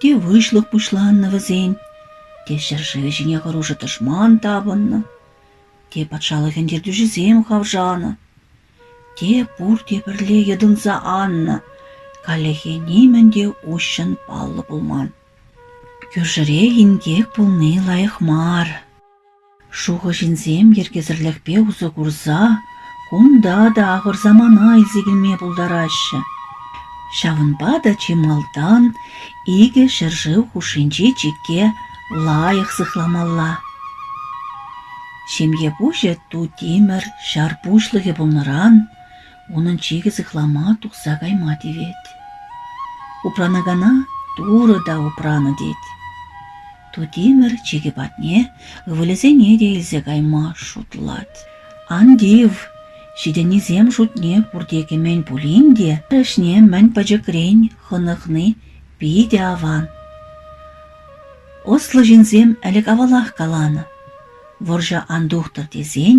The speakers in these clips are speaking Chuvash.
Те выҫлӑх пуҫланнӑ вӗсен, те ҫӗршывӗ ҫине хӑрушӑ тӑшман тапӑннӑ, те патшалӑхӗн ертӳҫисем хавшанӑ, те пурте пӗрле йӑтӑнса аннӑ, каллехи нимӗн те уҫҫӑн паллӑ пулман. Кӳршӗрех инкек пулни лайӑх мар. Шухӑҫӗсем йӗркесӗрлӗхпе усӑ курса кунта та ахӑр самана илсе килме пултараҫҫӗ. Ҫавӑнпа та чи малтан икӗ ҫӗршыв хушшинчи чикке лайӑх сыхламалла. Ҫемье пуҫӗ ту тимӗр ҫар пуҫлӑхӗ пулнӑран унӑн чикӗ сыхлама тухса кайма тивет. Упранакана Турӑ та упранӑ тет. Тутимӗр чикӗ патне ывӑлӗсене те илсе кайма шутлать. «Ан тив, ҫитӗннисем шутне пурте кӗмен пулин те ӗҫне мӗн пӗчӗкрен хӑнӑхни питӗ аван. Ӑслӑ ҫынсем ӗлӗк-авалах каланӑ, вӑрҫӑ ан тухтӑр тесен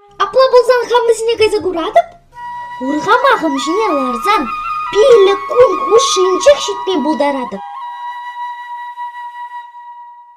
Апла пулсан хам вӗсене кайса куратӑп. Урхамахӑм ҫине ларсан пилӗк кун хушшинчех ҫитме пултаратӑп.